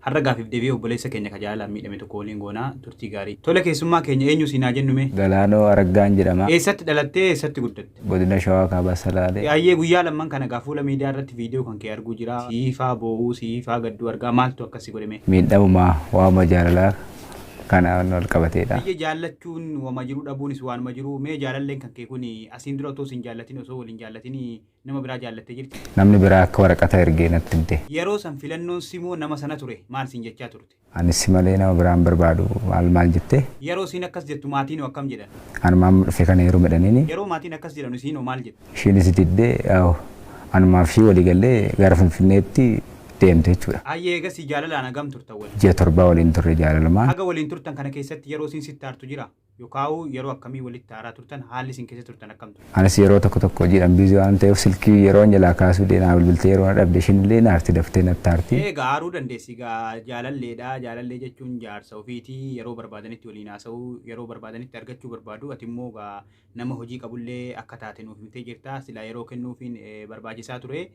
Har'a gaaffiif deebii obboleessa keenya ka jaalalaan miidhame tokko waliin goona. Turtii gaarii. Tole keessummaa keenya eenyu siin haa jennu mee? Galaanoo Araggaan jedhama. Eessatti dhalattee eessatti guddatte? Godina Shawaa Kaabaa Salaalee. Hayyee guyyaa lamman kana egaa fuula miidiyaa irratti viidiyoo kan kee arguu jira. Siifaa boo'uu, siifaa gadduu argaa maaltu akkas si godhe mee? Miidhamuma waanuma jaalalaa kanaan wal qabateedha. Hayyee jaallachuun wama jiru dhabuunis waanuma jiru. Mee jaalalleen kan kee kun asiin dura otoo siin jaallatin osoo wal hin jaallatin nama biraa jaallattee jirti. Namni biraa akka waraqata erge natti himte. Yeroo san filannoon simoo nama sana ture maal siin jechaa turte? Ani si malee nama biraa hin barbaadu maal maal jette? Yeroo isiin akkas jettu maatiinoo akkam jedhan? Anuma amma dhufe kana heerumi jedhaniini. Yeroo maatiin akkas jedhanu isiinoo maal jette? Ishiinis diddee yaa'u anumaaf ishii walii gallee gara Finfinneetti deemte jechuudha. Hayyee eegasii jaalalaan hagam turtan waliin? Ji'a torbaa waliin turre jaalalumaan. Haga waliin turtan kana keessatti yeroo isiin sitti aartu jiraa? Yokaauu yeroo akkamii walitti aaraa turtan? Haalli isin keessa turtan akkam ture? Anis yeroo tokko tokko hojiidhaan busy waanan ta'eef silkii yeroon jalaa kaasuu didee naa bilbiltee yeroo na dhabde ishiin illee hin aarti daftee natti aarti. Ee egaa aaruu dandeessi egaa jaalalleedha jaalallee jechuun jaarsa ofiiti yeroo barbaadanitti waliin haasa'uu yeroo barbaadanitti argachuu barbaadu ati immoo egaa nama hojii qabullee akka taate nuuf himtee jirta silaa yeroo kennuufiin barbaachisaa ture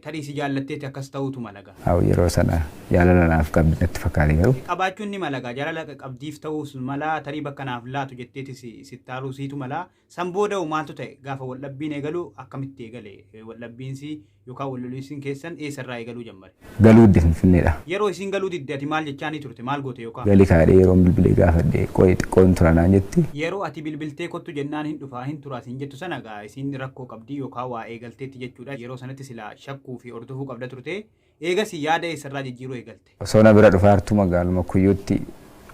Tarii si jaallatteeti akkas ta'uutu mala egaa. Aw yeroo sana jaalala naaf qabdi natti fakkaate garuu. Qabaachuun ni mala egaa jaalala qabdiif ta'uus mala tarii bakka naaf laatu jetteeti sittaaluu siitu mala san booda hoo maaltu ta'e gaafa wal dhabbiin eegalu akkamitti eegale wal dhabbiinsi yookaan wal loliinsin keessan eessa irraa eegaluu jammare. Galuu didde finfinneedha. Yeroo isiin galuu didde ati maal jechaanii turte maal goote yookaan. Gali kaadhee yeroon bilbilee gaafadhe qoyi xiqqoo hin tura naan jetti. Yeroo ati bilbiltee kottu jennaan hin dhufaa hin turaa siin jettu sana egaa isiin rakkoo qabdii yookaan waa eegalteetti jechuudha. jechuudha. Yeroo sanatti silaa shakkuu fi hordofuu qabda turte. Eegasii yaada eessarraa jijjiiruu eegalte? Osoo na bira dhufaartuu magaaluma Kuyyuutti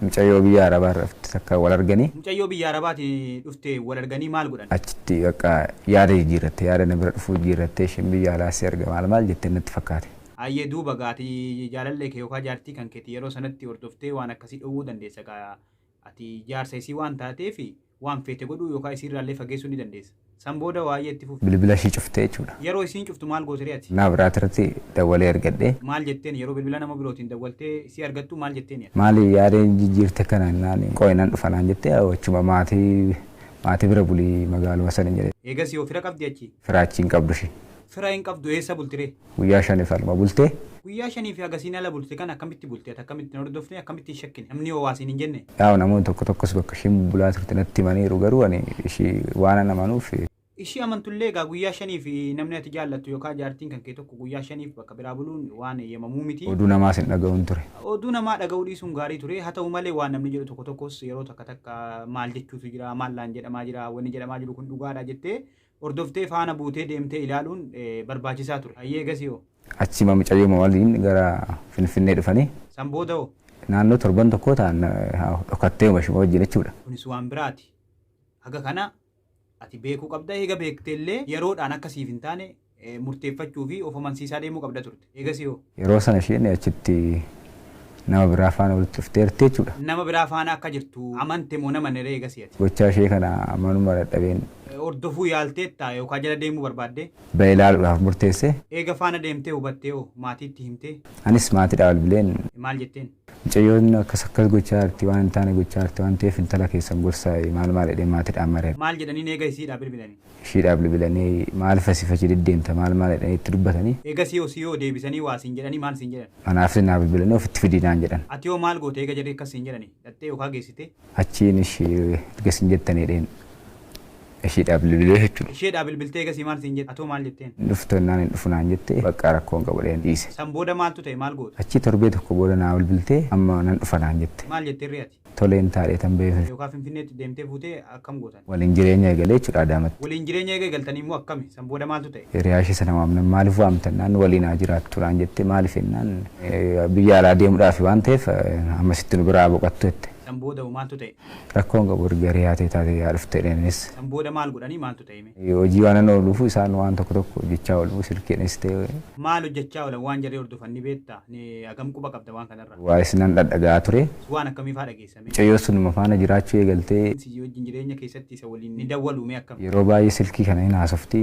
mucayyoo biyya Arabaarra dhufte takka wal arganii. Mucayyoo biyya Arabaati dhufte wal arganii maal godhan? Achitti bakka yaada jijjiirratte. Yaada na bira dhufuu jijjiirrattee isheen biyya alaa si arga maal maal jette natti fakkaate. Hayyee duuba gaa ati jaalallee kee yookaan jaartii kan keeti yeroo sanatti hordoftee waan akkasii dhowwuu dandeessa gaa ati jaarsa isii waan taateefi. Waan feete godhuu yookaa isiirraallee fageessuu ni dandeessa. San booda waayee itti fufi. Bilbila ishii cuftee jechuudha. Yaroo isiin cuftu maal gooteree ati? Naa biraatirratti dawwalee argadhe. Maal jetteen? Yaroo bilbila nama birootiin dawwaltee isii argattu maal jetteeni ati? Maali yaada jijjiirte kana jennaan qooyi nan dhufa naan jette achuma maatii maatii bira buli magaaluma sani jedhe. Eegasii hoo fira qabdii achi? Fira achi hin qabdu ishiin. Fira hin qabdu eessa bultiree? Guyyaa shanif alma bulte. Guyyaa shaniif haga isiin ala bulte kana akkamitti bulte ati akkamitti hin hordofne akkamitti hin shakkine namni hoo waa siin hin jenne. Yaa'u namoonni tokko tokkos bakka ishiin bubbulaa turte natti himaniiru garuu ani ishii waanan amanuuf. Ishii amantullee egaa guyyaa shaniif namni ati jaallattu yookaa jaartiin kan kee tokko guyyaa shaniif bakka biraa buluun waan eeyyamamuu miti. Oduu namaas hin dhaga'uun ture. Oduu namaa dhaga'uu dhiisuun gaarii ture haa ta'u malee waan namni jedhu tokko tokkos yeroo takka takka maal jechuutu jira maal naan jedhamaa jira wanni jedhamaa jiru kun dhugaadhaa jettee Hordoftee faana buutee deemtee ilaaluun barbaachisaa ture. Hayyee egasii hoo? Achiima mucayyooma waliin gara Finfinnee dhufanii. San booda hoo? Naannoo torban tokkoo ta'an dhokattee mashuma wajjin jechuudha. Kunis waan biraati. Haga kana ati beekuu qabda. Eega beekteellee yeroodhaan akka siif hin taane murteeffachuu fi of amansiisaa deemuu qabda turte. Eegasii hoo? Yeroo sana isheen achitti nama biraa faana walitti dhufteerti jechuudha. Nama biraa faana akka jirtu amante moo hin amanne ree eegasii ati? Gochaa ishee kana amanuma dadhabeen. Hordofuu yaalteettaa yookaa jala deemuu barbaaddee? Ba'ee ilaaluudhaaf murteesse. Eega faana deemtee hubattee hoo? Maatiitti himtee? Anis maatiidhaa bilbileen. Maal jetteen? Mucayyoon akkas akkas gochaa jirti waan hin taane gochaa jirti waan ta'eef intala keessan gorsaa maal maal jedhee maatiidhaan mari'adhu. Maal jedhaniin eega isiidhaa bilbilani? ishiidhaa bilbilanii maal fasi fachi deddeemta maal maal jedhanii itti dubbatanii. Eegasii hoo sii hoo deebisanii waa siin jedhanii maal siin jedhan? Anaafis naa bilbilanii ofitti fidi naan jedhan. Ati hoo maal goote eega jarri akkas siin jedhanii? Dhaxxee yookaa geessite? Achiin ishii erga isin jettanii jedheen ishiidhaa bilbilee jechuudha. Isheedhaa bilbiltee eegasii maal siin jette? Ati hoo maal jetteen? Hin dhuftu jennaan hin dhufu naan jette baqqaa rakkoo hin qabu jedheen dhiise. San booda maaltu ta'e maal goote? Achii torbee tokko booda naa bilbiltee amma nan dhufa naan jette. Maal jetterree ati? Toleen taadhee tan ba'ee Finfinnee. Yookaa Finfinneetti deemtee fuutee akkam gootan? Waliin jireenya eegalee jechuudha Adaamatti. Waliin jireenya eega eegaltanii immoo akkami? San booda maaltu ta'e? Hiriyaa ishee sana waamnan maaliif waamtan naan waliin haa jiraattu naan jette maaliif jennaan biyya alaa deemudhaafi waan ta'eef hammasitti nu biraa haa boqattu jette. San booda hoo maaltu ta'e? Rakkoo hin qabu erga hiriyaa tee taatee haa dhuftu jedheen anis. San booda maal godhanii maaltu ta'e mee? Hojii waanan ooluufu isaan waan tokko tokko hojjechaa oolu silkiinis ta'e. Maal hojjechaa oolan waan jarri hordofan ni beektaa? Hagam quba qabda waan kanarra? Waa'ee si nan dhadhaga'aa ture. S Waan akkamii faa dhageessa mee? Mucayyoo sunuma faana jiraachuu eegalte. N Si wajjin jireenya keessatti isa waliin ni dawwalu mee akkam? Yeroo baay'ee silkii kana hin haasofti.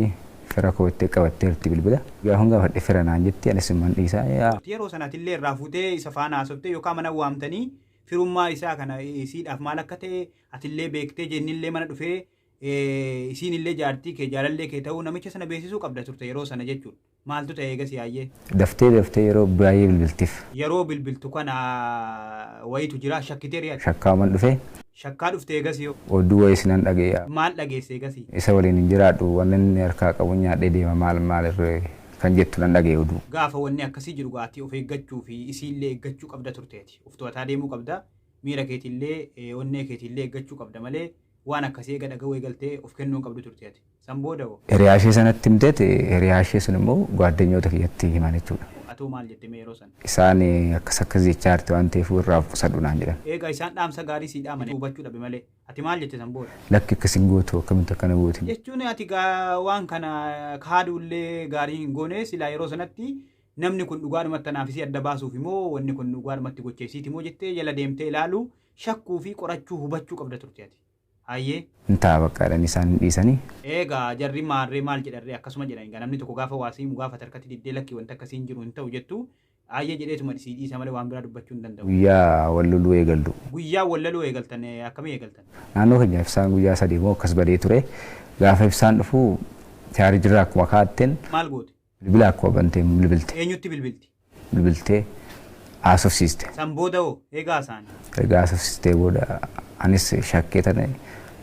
Fira koo ittee qabatteerti bilbila. Gaafan gaafadhe fira naan jetti anis imman dhiisa. E A. Ati yeroo sana atillee irraa fuutee isa faana haasoftee yookaa mana waamtanii firummaa isaa kana isiidhaaf maal akka ta'e atillee beektee J Innillee mana dhufee E Isiinillee jaartii kee jaalallee kee ta'uu namicha sana beeksisuu qabda turte yeroo sana jechuudha. Maaltu ta'e eegasii Aayyee? Daftee daftee yeroo baay'ee bilbiltiif. Yeroo bilbiltu kana wayiitu jiraa? Shakkitee ree ati? Shakkaaman dhufe. Shakkaa dhufte eegasii hoo? Oduu wayiis nan dhaga'e. Maal dhageesse eegasii? Isa waliin hin jiraadhu, wanni inni harkaa qabu nyaadhee deema maal maal irree kan jettu nan dhaga'e oduu. Gaafa wanni akkasii jiru gaa ati of eeggachuu fi isiillee eeggachuu qabda turte ati. Of to'ataa deemuu qabda. Miira keetiillee, onnee keetiillee eeggachuu qabda malee waan akkasii eega dhaga'uu eegaltee of kennuu hin qabdu turte ati. San booda hoo? Hiriyaashee sanatti himteeti, hiriyaashee sun immoo gwaaddanyoota kiyyatti himan jechuudha. Atoo maal jette mee yeroo san? Isaan akkas akkas jechaa jirti waan ta'eefuu irraa of qusadhu naan jedhan. Eegaa isaan dhaamsa gaarii sii dhaamani hubachuu dhabe malee. Ati maal jette san booda? Lakki akkas hin gootu akkamitti akkana gooti? Jechuun ati gaa waan kana kaaduullee gaarii hin goone silaa yeroo sanatti namni kun dhugaadhumatti anaaf isii adda baasuufi moo wanni kun dhugaadhumatti gocha isiiti moo jettee jala deemtee ilaaluu, shakkuu fi qorachuu hubachuu qabda turte ati. Hayyee. Hin ta'a baqqa jedhanii isaan hin dhiisanii. Eegaa jarri maarree maal jedhanree akkasuma jedhan egaa namni tokko gaafa waa si himu gaafate harkatti diddee lakki wanti akkasii hin jiru hin ta'u jettu Hayyee jedheetuma sii dhiisa malee waan biraa dubbachuu hin danda'u. Guyyaa wal loluu eegallu. Guyyaa wal loluu eegaltan akkamii eegaltan? Naannoo keenya ibsaan guyyaa sadii moo akkas badee ture. Gaafa ibsaan dhufu chaarjirraa akkuma kaa'atten. Maal goote? Bilbila akkuma bante hin bilbilte. Eenyutti bilbilti? Bilbiltee haasofsiiste. San booda hoo eega haasa'anii? Eega haasofsiistee booda anis shakkee tana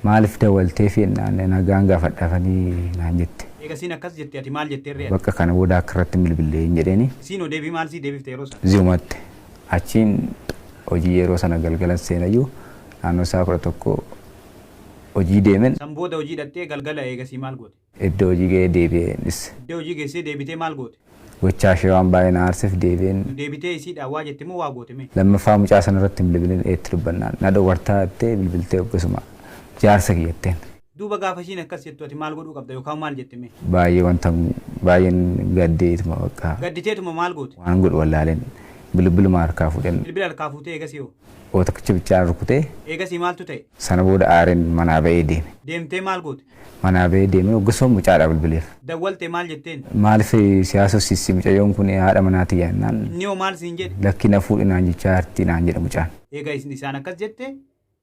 maaliif dawwalteefi jennaan nagaan gaafadhaafanii naan jette. Eega isiin akkas jette ati maal jettee irree ati? Bakka kana booda akka irratti hin bilbille hin jedheeni. Isiin hoo deebii maal sii deebifte yeroo san? Ziumatti. Achiin hojii yeroo sana galgalan seenayyuu naannoo sa'a kudha tokko hojii deemen. San booda hojii dhaxxee galgala eegasii maal goote? Iddoo hojii ga'ee deebi'ee hin dhisse. Iddoo hojii geessee deebitee maal goote? Gochaa ishee waan baay'ee na aarseef deebi'een. Deebitee isiidhaan waa jette moo waa goote mee? Lammaffaa mucaa sana irratti hin bilbilin eetti dubbannaan. Na dhowwartaa jettee bilbiltee obbosumaa. Jaarsa kiyya jetteen. Duuba gaafa ishiin akkas jettu ati maal godhuu qabda yookaan maal jette mee? Baay'ee wanta baay'een gaddee ituma bakka. Gadditeetuma maal goote? Waanan godhu wallaaleen bilbiluma harkaa fuudheen. Bilbila harkaa fuutee eegasii hoo? Hoo takkicha bichaan rukutee. Eegasii maaltu ta'e? Sana booda aareen manaa ba'ee deeme. Deemtee maal goote? Manaa ba'ee deemee hoggasuma mucaadhaa bilbileef. Dawwalte maal jetteen? Maaliif si haasofsiissi mucayyoon kun haadha manaa tiyya jennaan. Inni hoo maal siin jedhe? Lakki na fuudhi naan jechaa jirti naan jedhe mucaan. Eega isin isaan akkas jette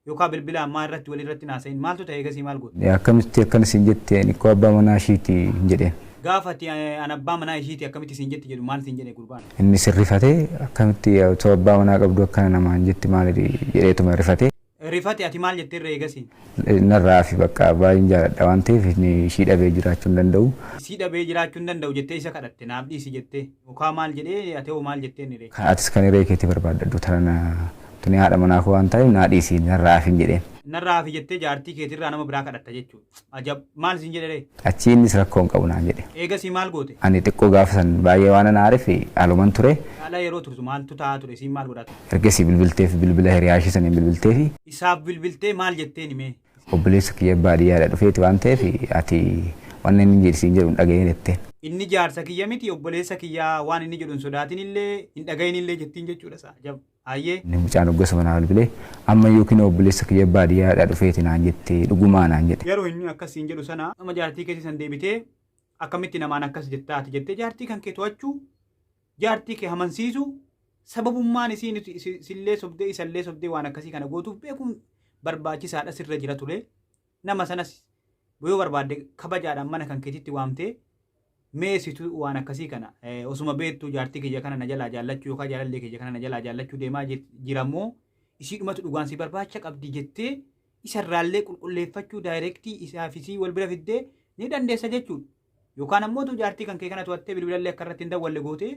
yookaa bilbilaan maa irratti wal irratti hin haasa'in maaltu ta'e eegasii maal goote? Akkamitti akkana siin jette ani koo abbaa manaa ishiiti hin jedheen. Gaafa ati an abbaa manaa ishiiti akkamitti siin jetti jedhu maal siin jedhe gurbaan? Innis hin rifate akkamitti otoo abbaa manaa qabduu akkana namaan jetti maali jedheetuma rifate. Rifate ati maal jette irra eegasi. Narraa hafi bakka baay'een jaaladha waan ta'eef ishii dhabee jiraachuu hin danda'u. Isii dhabee jiraachuu hin danda'u jettee isa kadhatte naaf dhiisi jettee yookaa maal jedhee ati hoo maal jettee inni ree. Kan atis kan hiree keetii barbaaddadhu tarana tuni haadha manaa koo waan ta'eef naa dhiisi narraa hafi hin jedheen. Narraa hafi jettee jaartii keetirraa nama biraa kadhatta jechuu. Ajab! Maal siin jedhe ree? Achii innis rakkoo hin qabu naan jedhe. Eegasii maal goote? Ani xiqqoo gaafa san baay'ee waanan aareef aluman ture. Ala yeroo turtu maaltu ta'aa ture? Isiin maal godhaa turte? Ergasii bilbilteef bilbila hiriyaa ishii saniin bilbilteefi. Isaaf bilbiltee maal jetteeni mee? Obboleessa kiyya baadiyyaadha dhufeeti waan ta'eef ati wanna inni jedhi siin jedhu hin dhagayin jetteen. Inni jaarsa kiyya miti obboleessa kiyyaa waan inni jedhu hin sodaatinillee hin dhagayinillee jettiin jechuudha sa. Ajab! Ayyee. Inni mucaan hoggasuma naa bilbilee amma iyyuu kinoo obboleessa kiyya baadiyyaadhaa dhufeeti naan jette dhugumaa naan jedhe. Yeroo inni akkas siin jedhu sana amma jaartii keetii san deebitee akkamitti namaan akkas jettaa ati jettee jaartii kan kee to'achuu jaartii kee amansiisuu sababummaan isiin isillee sobdee isallee sobdee waan akkasii kana gootuuf beekuun barbaachisaadha sirra jira ture Nama sanas yoo barbaadde kabajaadhaan mana kan keetitti waamtee mee situ waan akkasii kana eh, osuma beektuu jaartii kiyya kana na jalaa jaallachuu yookaan jaalallee kiyya kana na jalaa jaallachuu deemaa jir- jira moo isii dhumatu dhugaan si barbaacha qabdi jettee isarraallee qulqulleeffachuu daayirektii isaa fi isii wal bira fiddee ni dandeessa jechuudha. Yookaan ammoo tu jaartii kan kee kana to'attee bilbilallee akka irratti hin dawwalle gootee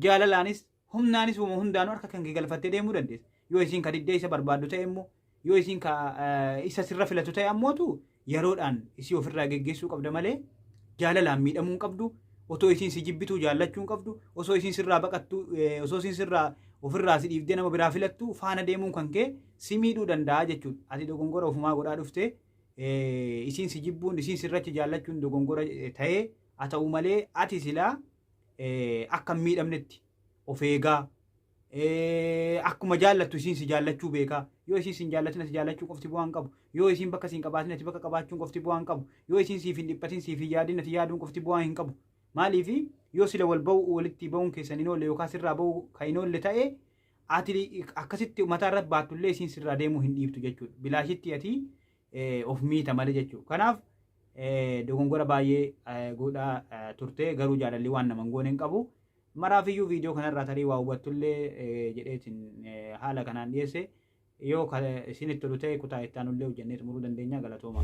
jaalalaanis humnaanis uuma hundaanuu harka kan kee galfattee deemuu dandeessa. Yoo isiin ka diddee isa barbaaddu ta'e immoo yoo isiin ka eh, isa sirra filatu ta'e ammootu yeroodhaan isii ofirraa geggeessuu qabda malee jaalalaan miidhamuu hin qabdu. Otoo isiin si jibbituu jaallachuu hin qabdu. Osoo isiin sirraa baqattu eh, osoo isiin sirraa ofirraa si dhiibdee nama biraa filattu faana deemuun kan kee si miidhuu danda'a jechuudha. Ati dogongora ofumaa godhaa dhufte eh, isiin si jibbuun isiin sirrachi jaallachuun dogongora eh, ta'ee haa ta'u malee ati silaa akka hin miidhamnetti of eegaa akkuma jaallattu isiin si jaallachuu beekaa yoo isiin sin jaallatin ati jaallachuu qofti bu'aa hin qabu yoo isiin bakka siin qabaatin ati bakka qabaachuun qofti bu'aa hin qabu yoo isiin siif hin dhiphatin siif hin yaadin ati yaaduun qofti bu'aa hin qabu maaliif yoo sila wal ba'u walitti ba'uun keessan hin oolle yookaan sirraa ba'u kan hin oolle ta'e ati akkasitti mataa irratti baattullee isiin sirraa deemuu hin dhiiftu jechuudha bilaashitti ati of miita malee jechuudha. Kanaaf dogongora baay'ee godhaa turte garuu jaalalli waan nama hin goone hin qabu. Maraafiyyuu viidiyoo kanarraa tarii waa hubattullee jedheetiin haala kanaan dhiyeesse yoo isinitti tolu ta'e kutaa itti aanullee hojjannee xumuruu dandeenya galatooma.